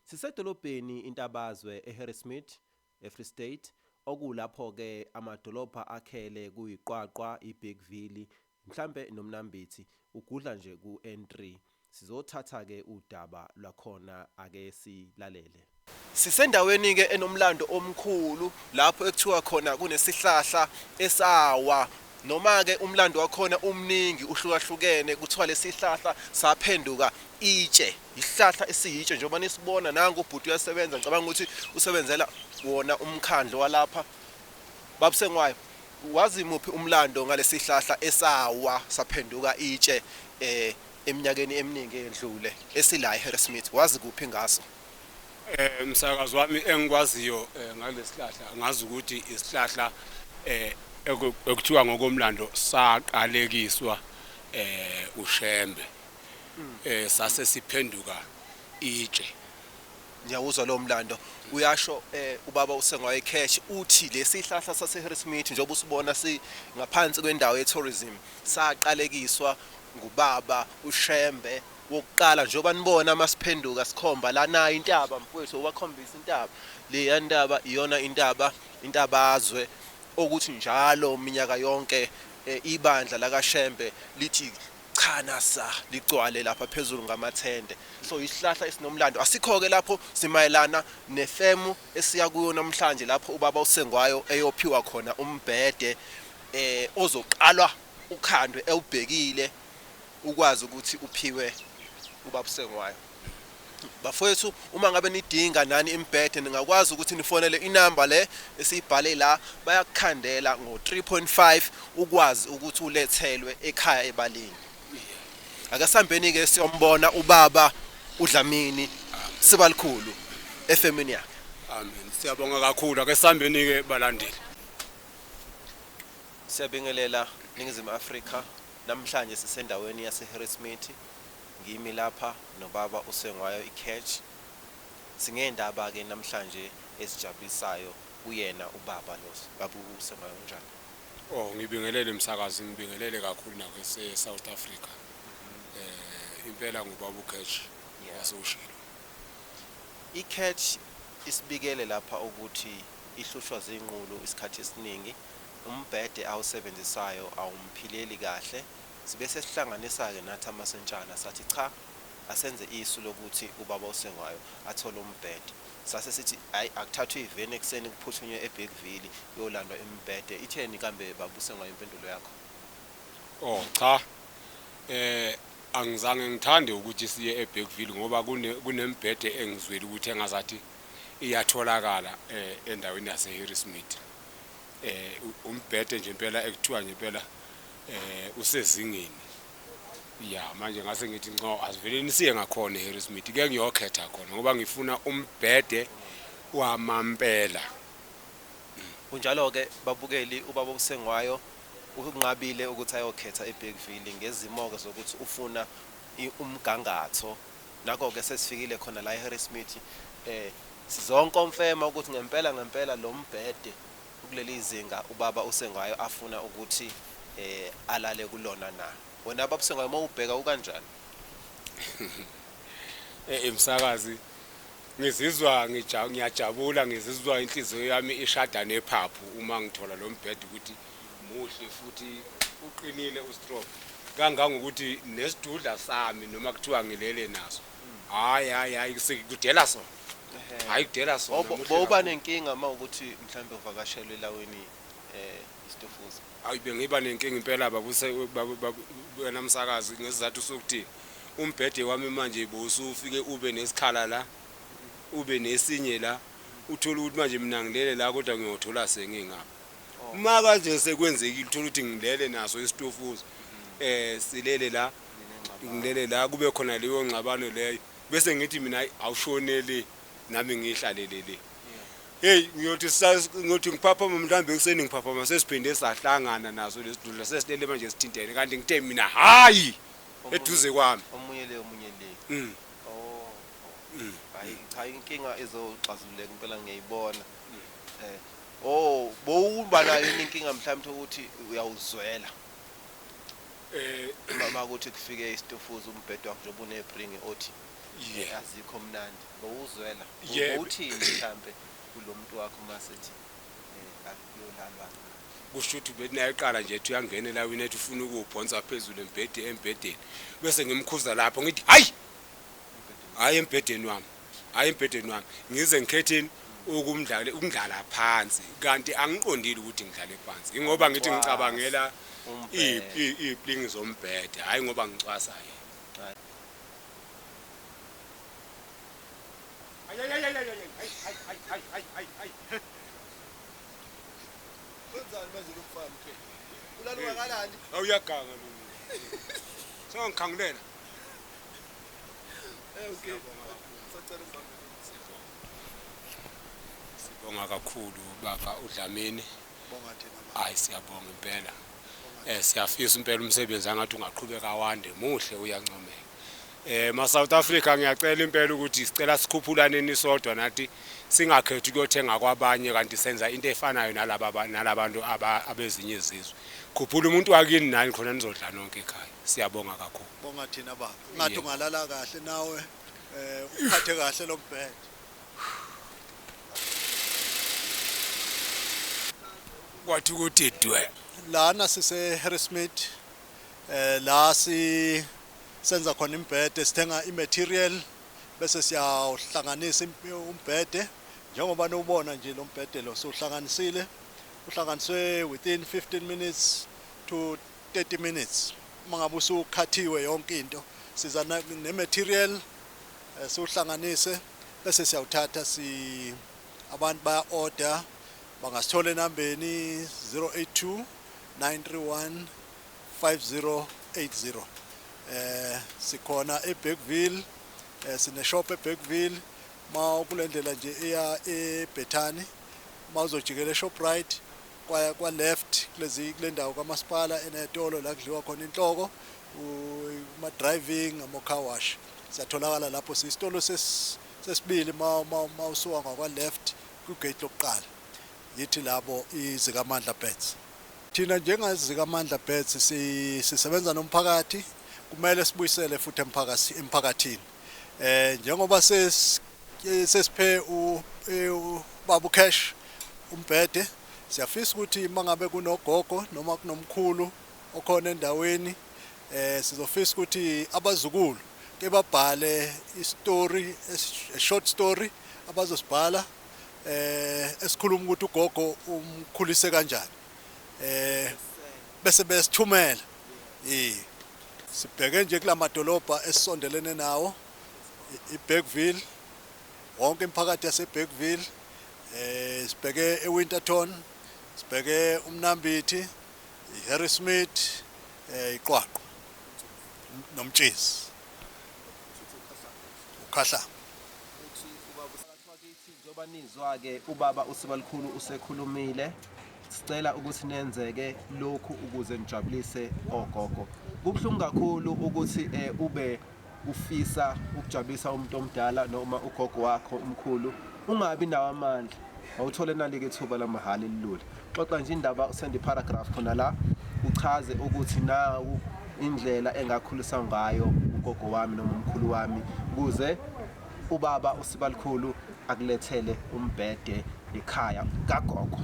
Sisedolobheni iNtabazwe eHarrismith, eFree State, okuwulapho ke amadolobha akhele kuyiQwaqwa, iBigville, mhlampe noMnambithi, ugudla nje kuN3. Sizothatha ke udaba lwakhona ake silalele. Sisendaweni ke enomlando omkhulu lapho ekuthiwa khona kunesihlahla esawa Noma-ke umlando wakhona umningi, uhlukahlukene, kuthiwa lesihlahla saphenduka itshe, yisihlahla esiyitshe njengoba nisibona, nangu ubhuti uyasebenza, ngicabanga ukuthi usebenzela wona umkhandlu walapha. Baba uSengwayo, wazi muphi umlando ngalesihlahla esawa saphenduka itshe eminyakeni eminingi eyendlule, esila eHarrismith, wazi kuphi ngaso? Eh msakazi wami engikwaziyo eh, ngalesihlahla ngazi ukuthi isihlahla eh ekuthiwa ngokomlando saqalekiswa eh uShembe eh sase siphenduka itshe ngiyawuzwa lo mlando uyasho eh ubaba usengwaye cash uthi lesihlahla sase Harrismith njengoba usibona si ngaphansi kwendawo ye tourism saqalekiswa ngubaba uShembe wokuqala njengoba nibona masiphenduka sikhomba la nayi intaba mfowethu obakhombisa intaba leya ntaba iyona intaba intabazwe okuthi njalo minyaka yonke eh, ibandla lakaShembe lithi cha nasa ligcwale lapha phezulu ngamathende so isihlahla esinomlando asikho ke lapho simayelana nefemu esiya kuyo namhlanje lapho ubaba usengwayo eyophiwa khona umbhede eh ozoqalwa ukhandwe ewubhekile ukwazi ukuthi uphiwe ubabusengwayo. Bafowethu uma ngabe nidinga nani imbhede ningakwazi ukuthi nifonele inamba le esiyibhale la bayakukhandela ngo 3.5 ukwazi ukuthi ulethelwe ekhaya ebalini. Ake sambeni ke siyombona ubaba uDlamini sibalikhulu efemini yakhe. Amen. Siyabonga kakhulu ake sambeni ke balandeli. Siyabingelela ningizimu Afrika. Namhlanje sisendaweni yaseHarrismith ngimi lapha nobaba uSengwayo iCatch. Singeendaba ke namhlanje ezijabulisayo kuyena ubaba lo baba uSengwayo unjani? Oh ngibingelele msakazi ngibingelele kakhulu nakwese South Africa. Impela ngubaba uCatch wasewushilo. ICatch isibikele lapha ukuthi ihlushwa zinqulu isikhathi esiningi. Umbhede awusebenzisayo awumphileli kahle. Sibe sesihlanganisa-ke nathi amasentshana sathi cha asenze isu lokuthi ubaba uSengwayo athole umbhede. Sase sithi hhayi akuthathwe iveni ekuseni kuphuthunywe eBergville kuyolandwa imibhede. Itheni kambe baba uSengwayo impendulo yakho? O, cha. Eh, angizange ngithande ukuthi siye eBergville ngoba kune, kunembhede engizwile ukuthi engazathi iyatholakala eh, endaweni yaseHarrismith. um umbhede nje impela ekuthiwa nje impela um usezingeni ya manje ngase ngithi nco asiveleni siye ngakhona eharrismith ke ngiyokhetha khona ngoba ngifuna umbhede wamampela kunjalo-ke babukeli ubaba obusengwayo unqabile ukuthi ayokhetha ebhekville ngezimo-ke zokuthi ufuna umgangatho Nako-ke sesifikile khona la eHarrismith. Sizokonfema ukuthi ngempela ngempela lo mbhede ukuleli zinga ubaba uSengwayo afuna ukuthi alale kulona na. Wena baba uSengwayo uma ubheka ukanjani? Eyi msakazi, ngizizwa ngiyajabula, ngizizwa inhliziyo yami ishada nephaphu uma ngithola lo mbhede ukuthi Muhle futhi uqinile u strong kangangokuthi nesidudla sami noma kuthiwa ngilele naso. Hayi hayi hayi kudela sona. Hayi kudela sona. Bobo muhle boba kakhulu. nenkinga uma ukuthi mhlambe uvakashelwe elaweni eh istofuza. Ayi bengiba nenkinga impela babuse babu- babu- wena msakazi ngesizathu sokuthi umbhede wami manje bowusufike ube nesikhala la ube nesinye la uthole ukuthi manje mina ngilele la kodwa ngiyothola sengingapha. uma kanje sekwenzekile uthola ukuthi ngilele naso isitofuzi um silele la ngilele la kube khona leyo ngxabano leyo bese ngithi mina awushonele nami ngiyihlalele le heyi ngiyothi ngiyothi ngiphaphama mhlawumbe ekuseni ngiphaphama sesiphinde sahlangana naso lesi dudla sesilele manje sithintene kanti ngithe mina hhayi eduze kwami omunye le omunye le mm. oh, oh. Mm. hayi cha inkinga izoxazululeka impela ngiyayibona mm. eh Oh bowuba nayo yini inkinga mhlawumbe ukuthi uyawuzwela eh uma ukuthi kufike istufuza umbhedo wakho njengoba unebring othi yeah azikho mnandi bowuzwela uthini mhlawumbe kulomuntu wakho masethi eh, akuyolalwa kusho ukuthi benayeqala nje ethi uyangena elawini ethi ufuna ukuwubhonsa phezulu embhedeni embhedeni bese ngimkhuza lapho ngithi hayi hayi embhedeni wami hhayi embhedeni wami ngize ngikhetheni ukumdlala ukundlala phansi kanti angiqondile ukuthi ngidlale phansi ingoba ngithi ngicabangela iy'plingi zombhede hhayi ngoba ngicwasa yena awuyaganga lo sengangikhangulela Sibonga kakhulu baba uDlamini. Hayi siyabonga impela. Eh siyafisa impela umsebenzi angathi ungaqhubeka wande muhle uyancomeka. Eh ma South Africa ngiyacela impela ukuthi sicela sikhuphulane nisodwa nathi singakhethi ukuyothenga kwabanye kanti senza into efanayo nalaba nalabantu abezinye izizwe. Khuphula umuntu wakini nani khona nizodla nonke ekhaya. Siyabonga kakhulu. Bonga thina baba. Ngathi ungalala kahle nawe eh uphathe kahle lo mbhedo. Kwathi ukuthi dwe. Lana sise Harrismith eh la si senza khona imbhede sithenga imaterial bese siyawuhlanganisa umbhede njengoba nobona nje lo mbhede lo sohlanganisile uhlanganiswe within 15 minutes to 30 minutes uma ngabe usukhathiwe yonke into siza ne material eh, siwuhlanganise bese siyawuthatha si abantu baya order bangasithola enambeni 082 931 5080 eh sikhona eBergville eh, sine shop eBergville ma kulendlela nje eya eBethani ma uzojikela eShoprite kwa, kwa left kulezi kule ndawo kamasipala enetolo la kudliwa khona inhloko uma driving ama car wash siyatholakala lapho sisitolo sesibili ma ma usuka ngakwa left ku gate lokuqala yithi labo izikamandla bets thina njengazikamandla bets sisebenza nomphakathi kumele sibuyisele futhi emphakathini eh njengoba ses sesiphe u e, babu cash umbhede siyafisa ukuthi mangabe kunogogo noma kunomkhulu okhona endaweni eh sizofisa ukuthi abazukulu ke babhale istory a short story abazosibhala eh esikhuluma ukuthi ugogo umkhulise kanjani eh bese besithumela ii. Sibheke nje kula madolobha esisondelene nawo, iBergville, wonke imiphakathi yaseBergville, um sibheke eWinterton, sibheke uMnambithi, iHarrismith, um iQwaqwa noMtshezi, uKhahlamba. Njengoba nizwa ke ubaba uSibalukhulu usekhulumile sicela ukuthi nenzeke lokhu ukuze nijabulise ogogo. Kubuhlungu kakhulu ukuthi eh, ube ufisa ukujabulisa umuntu omdala noma ugogo wakho umkhulu ungabi nawo amandla awuthole nalike ithuba lamahhala elilula xoxa nje indaba usende paragraph khona la uchaze ukuthi nawu indlela engakhulisa ngayo ugogo wami noma umkhulu wami kuze Ubaba uSibalikhulu akulethele umbhede ekhaya kagogo.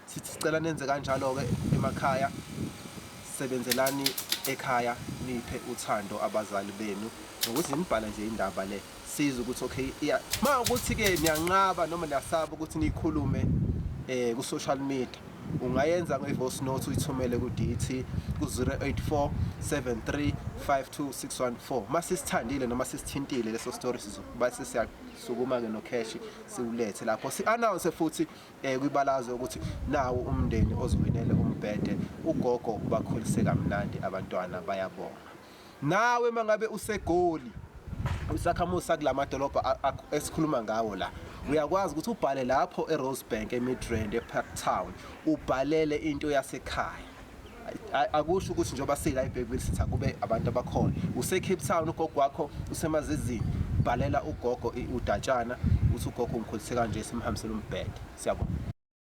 Sithi sicela nenze kanjalo-ke emakhaya, sebenzelani ekhaya niphe uthando abazali benu nokuthi nibhala nje indaba le siza ukuthi okay iya ma ukuthi-ke niyanqaba noma niyasaba ukuthi niyikhulume um ku-social media Ungayenza nge-voice note uyithumele ku-DT ku-084 73 52614. Uma sisithandile noma sisithintile leso story sizokuba sesiyasukuma-ke nokheshi siwulethe lapho. Si-announce futhi um kwibalaze ukuthi nawo umndeni oziwinele umbhede, ugogo ubakhulise kamnandi abantwana bayabonga. Nawe mangabe useGoli isakhamuzi sakula madolobha a- a- esikhuluma ngawo la uyakwazi ukuthi ubhale lapho eRosebank eMidrand eParktown ubhalele into yasekhaya A- akusho ukuthi njengoba sila eBergville sithi akube abantu abakhona useCape Town ugogo wakho usemazizini bhalela ugogo i- udatshana uthi ugogo ungikholise kanje simhambisele umbhede siyabona